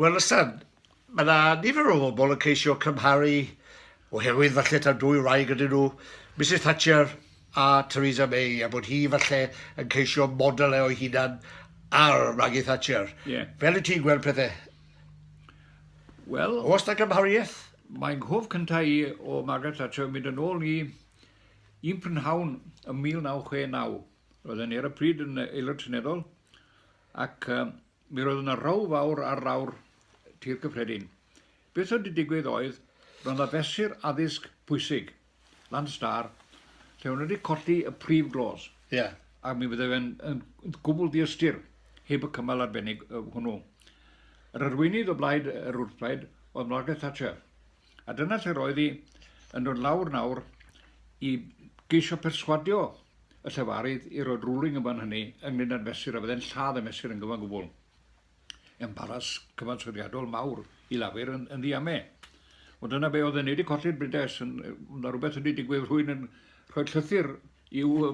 Wel Lysan, mae yna nifer o bobl yn ceisio cymharu, oherwydd falle taw dwy wraig ydyn nhw, Misus Thatcher a Theresa May, a bod hi falle yn ceisio model e o'i hunan ar Maggie Thatcher. Yeah. Fel y ti'n gweld pethau? Wel... Os na gymhariaeth? Mae'n nghof cyntaf i o Margaret Thatcher mynd yn ôl i un prynhawn ym 1969. Roedd yn ar y pryd yn aelod seneddol ac Mi roedd yna row fawr ar lawr Tir Cyffredin. Beth oedd wedi digwydd oedd, roedd yna fesur addysg pwysig, Land Star, lle o'n nhw wedi colli y prif glos. Ie. Ac mi fydde fe'n yn gwbl diystyr heb y cymal arbennig hwnnw. Yr arweinydd o blaid yr wrthblaid oedd Margaret Thatcher. A dyna lle roedd hi yn dod lawr nawr i geisio perswadio y llefarydd i roi'r ruling yn fan hynny ynglyn â'r mesur a fydde'n lladd y mesur yn gyfan gwbl. Embaras cyfansoddiadol mawr i Lafur yn, yn ddiame. Ond dyna be oedd yn neud i colli'r brides, yn, na rhywbeth wedi digwydd rhwy'n yn rhoi llythyr i'w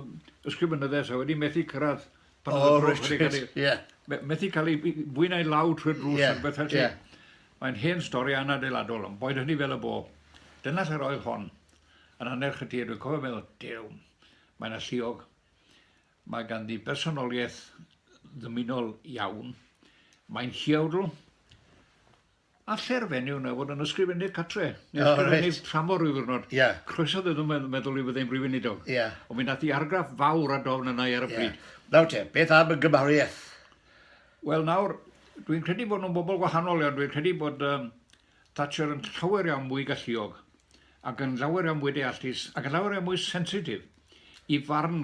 ysgrifenyddes a wedi methu cyrraedd pan oedd y drws wedi cael ei... Ie. Methu cael ei fwy na'i law trwy'r drws yeah. rhywbeth felly. Yeah. Mae'n hen stori anadeiladol, ond boed hynny fel y bo. Dyna lle roedd hon. Yn annerch y tir, dwi'n cofio meddwl, dew, mae yna lliog. Mae ganddi bersonoliaeth ddymunol iawn. Mae'n lliawdl, Allai'r fenyw yna fod yn ysgrifennydd catre, neu oh, ysgrifennydd right. tramor rhyw ddwrnod. Yeah. Croeso ddod yn meddwl, meddwl i fyddai'n brifyn i dog. Yeah. Ond mi nath i argraff fawr a dofn yna ar y yeah. bryd. Nawr te, beth am y gymariaeth? Wel nawr, dwi'n credu bod nhw'n bobl gwahanol iawn. Dwi'n credu bod um, Thatcher yn llawer iawn mwy galluog ac yn llawer iawn mwy deallus ac yn llawer iawn mwy sensitif. i farn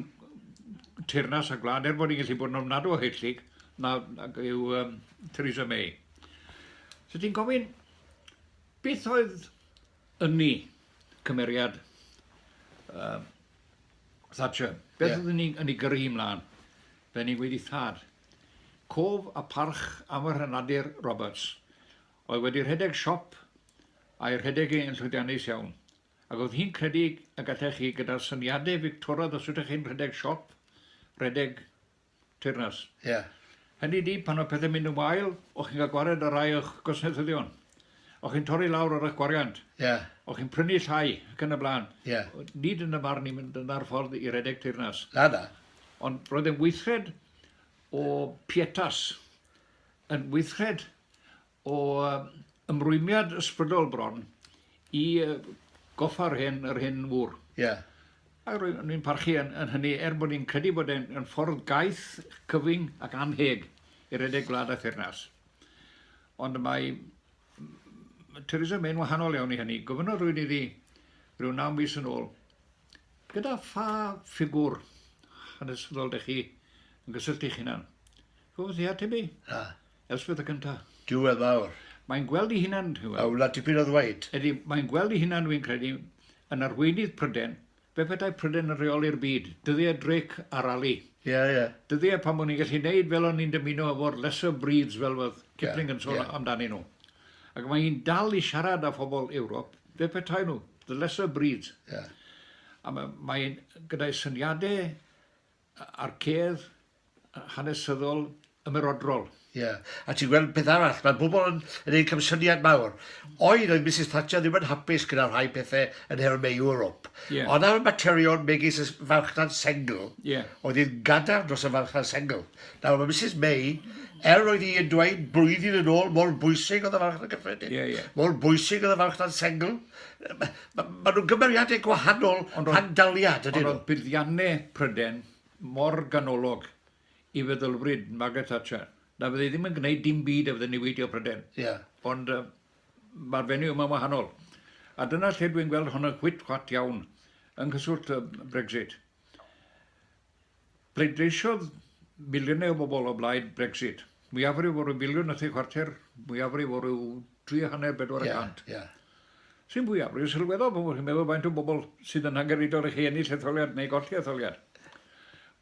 teyrnas y gwlad, er bod hi'n gallu bod yn ofnadw o hellid, nag yw um, Theresa May. So ti'n gofyn, beth oedd yn ni cymeriad uh, Thatcher? Beth yeah. oedd yn ni, yn ni gyrru hi mlaen? Fe ni'n gweud i thad, cof a parch am yr hynadur Roberts, oedd wedi rhedeg siop a'i rhedeg ei yn llwyddiannus iawn. Ac oedd hi'n credu y gallech chi gyda'r syniadau Fictoraidd os ydych chi'n rhedeg siop, rhedeg teyrnas. Ie. Hynny ydi, pan mae pethau'n mynd yn wael, o'ch chi'n cael gwared ar rai o'ch gwasnaethyddion. O'ch chi'n torri lawr ar eich gwariant. Ie. O'ch chi'n prynu llai ac yn y blaen. Ie. Nid yn y marn i mynd yna'r ffordd i redeg teyrnas. Na, na. Ond roedd e'n weithred o pietas, yn weithred o ymrwymiad ysbrydol bron i goffa'r hyn, yr hyn fwr. Ie. Yeah. A rwy'n ni'n parchu yn, yn hynny, er bod ni'n credu bod e'n ffordd gaeth, cyfyng ac anheg i redeg gwlad a thyrnas. Ond mae Theresa May'n wahanol iawn i hynny. Gofynnodd rwy'n iddi rhyw naw mis yn ôl, gyda pha ffigwr hanesyddol dych chi yn gysylltu'ch hunan? Gofynnodd i ateb i. Na. Elspeth y cynta. Duw e fawr. Mae'n gweld ei hunan, ti'n gweld. A wna tipyn o ddweud. Ydy, mae'n gweld ei hunan, fi'n credu, yn arweinydd Pryden. Fe petai Pryden yn reoli'r byd, dyddiau Drake a Raleigh. Ie, yeah, ie. Yeah. Dyddiau pan o'n i'n gallu neud fel o'n i'n dymuno efo'r lesser breeds fel oedd Kipling yn sôn amdanyn nhw. Ac mae hi'n dal i siarad â phobl Ewrop, fe petai nhw, the lesser breeds. Ie. A mae, mae gyda'i syniadau a'r cerdd hanesyddol ymerodrol. Ie. A ti'n gweld peth arall, mae pobl yn gwneud camsyniad mawr. Oedd, oedd Misus Thatcher ddim yn hapus gyda rhai pethau yn nhermau Ewrop. Yeah. Ond ar y materion megis y farchnad sengl, yeah. oedd hi'n gadarn dros y farchnad sengl. Nawr, mae Misus May, er oedd hi yn dweud blwyddyn yn ôl mor bwysig oedd y farchnad gyffredin, yeah, yeah. mor bwysig oedd y farchnad sengl, Ma- maen nhw'n gymeriadau gwahanol rhag daliad, ydyn nhw? Ond oedd buddiannau Prydain mor ganolog i feddylfryd Margaret Thatcher na fydde hi ddim yn gwneud dim byd a fydde niweidio Prydain. Yeah. Ond uh, mae'r fenyw yma'n wahanol. A dyna lle dwi'n gweld hwn yn chwit chwat iawn yng nghyswllt uh, Brexit. Pleidleisiodd miliynau o bobl o blaid Brexit. Mwyafrif o ryw filiwn a thri chwarter, mwyafrif o ryw dri a hanner, bedwar y cant. Ie, ie. Sy'n fwyafrif sylweddol pan fo chi'n meddwl faint o bobl sydd yn angenrheidiol i chi ennill etholiad neu golli etholiad.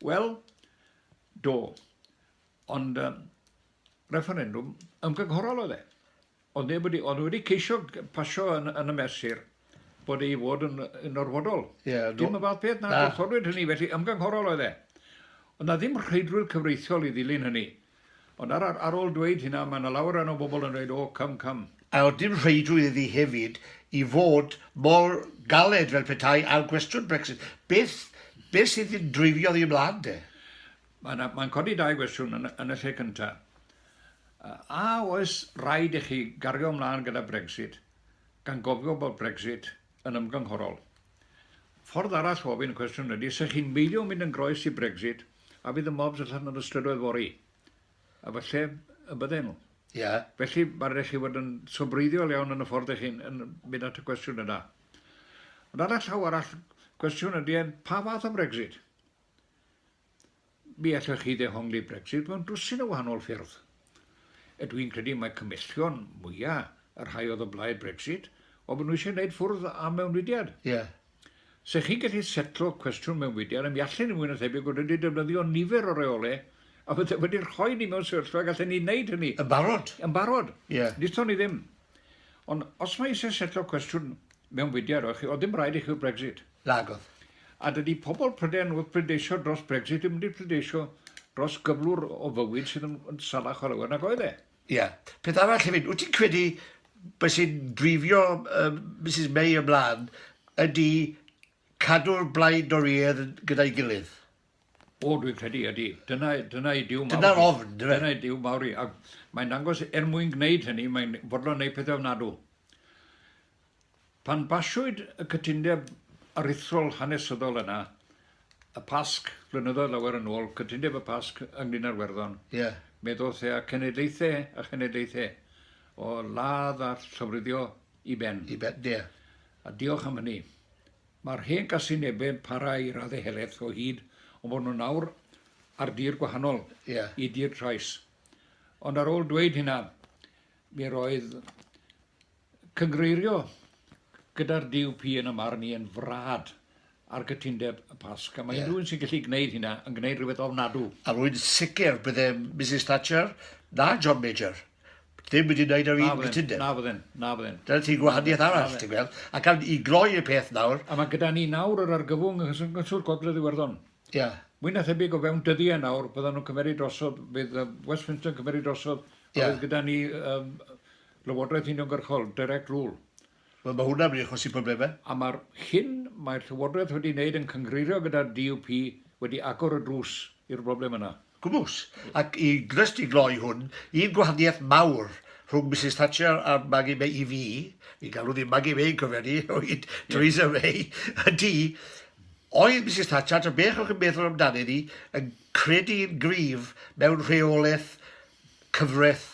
Wel, do. Ond refferendwm ymgynghorol oedd e. Ond neb wedi, ond wedi ceisio pasio yn, yn y mesur bod ei fod yn, yn orfodol. Yeah, no. Dim y fath peth na, gwrthodwyd hynny, felly ymgynghorol oedd e. Ond na ddim rheidrwydd cyfreithiol i ddilyn hynny. Ond ar, ar, ar ôl dweud hynna, mae yna lawer yna o bobl yn dweud, o, oh, cym, cym. A oedd dim rheidrwydd iddi hefyd i fod mor galed fel petai ar gwestiwn Brexit. Beth, beth sydd yn dreifio ddi ymlaen de? Mae'n codi dau gwestiwn yn y lle cyntaf. A oes rhaid i chi gario ymlaen gyda Brexit gan gofio bod Brexit yn ymgynghorol? Ffordd arall o ofyn y cwestiwn ydy, se chi'n beidio mynd yn groes i Brexit a fydd y mobs allan yn y strydoedd fory? A falle y bydden nhw. Ie. Felly mae rhaid i chi fod yn sobreiddiol iawn yn y ffordd ych chi'n mynd at y cwestiwn yna. Ond ar y llaw arall, cwestiwn ydy, pa fath o Brexit? Mi allech chi ddehongli Brexit mewn dwsin o wahanol ffyrdd. A dwi'n credu mae cymhellion mwya' y rhai oedd o blaid Brexit oedd bod nhw eisiau gwneud ffwrdd â mewnfudiad. Ie. Se chi'n gallu setlo cwestiwn mewnfudiad a mi allen ni fwy na thebyg fod wedi defnyddio nifer o reole a fydde wedi rhoi ni mewn sefyllfa gallen ni wneud hynny. Yn barod. Yn barod. Ie. Nithon ni ddim. Ond os mae eisiau setlo cwestiwn mewnfudiad, oedd chi, oedd ddim rhaid i chi Brexit. Nagodd. A dydy pobl Prydain wrth bleidleisio dros Brexit ddim wedi pleidleisio dros gyflwr o fywyd sydd yn, yn salach o lawer nag oedd e. Ie. Peth arall hefyd, wyt ti'n credu beth sy'n drifio um, Mrs May ymlaen ydy cadw'r blaid Dorïedd gyda'i gilydd? O, dwi'n credu ydy. Dyna, dyna i diw mawr. Dyna'r ofn, dyna. Dyna i diw mawr i. Ac mae'n dangos, er mwyn gwneud hynny, mae'n fodlon gwneud pethau ofnadw. Pan basiwyd y cytundeb aruthrol hanesyddol yna, y Pasg, flynyddoedd lawer yn ôl, cytundeb y Pasg ynglŷn â'r Werddon, yeah. mi ddoth e â cenedlaethau a chenedlaethau o ladd a llofruddio i ben. I ben, ie. Yeah. A diolch am hynny. Mae'r hen gasinebau yn para i raddau helaeth o hyd, ond bod nhw nawr ar dir gwahanol yeah. i dir trais. Ond ar ôl dweud hynna, mi roedd Cynghreirio gyda'r DUP yn y marn i yn frad ar gytundeb y Pasg, a mae unrhyw un sy'n gallu gwneud hynna yn gwneud rhywbeth ofnadw. A rwy'n sicr byddai Misus Thatcher na John Major ddim wedi gwneud yr un gytundeb. Na fydden, na fydden. Dyna ti gwahaniaeth arall, ti'n gweld. Ac am i gloi y peth nawr... A mae gyda ni nawr yr argyfwng yng Nghyswllt Gogledd Iwerddon. Ia. Mwy na thebyg o fewn dyddiau nawr, byddan nhw'n cymeryd drosodd, bydd Westminster yn cymeryd drosodd, a bydd gyda ni Llywodraeth uniongyrchol, direct rule. Wel, mae hwnna'n mynd i achosi problemau. A mae'r hyn mae'r Llywodraeth wedi wneud yn cynghreirio gyda'r DUP wedi agor y drws i'r broblem yna. Gwmws. Ac i jyst i gloi hwn, un gwahaniaeth mawr rhwng Misus Thatcher a'r Maggie May i fi, ni'n galw ddi Maggie May, cofia ni, o hyd Theresa May, ydy, oedd Misus Thatcher, ta beth o'ch chi'n meddwl amdani ddi, yn credu yn gryf mewn rheolaeth cyfraith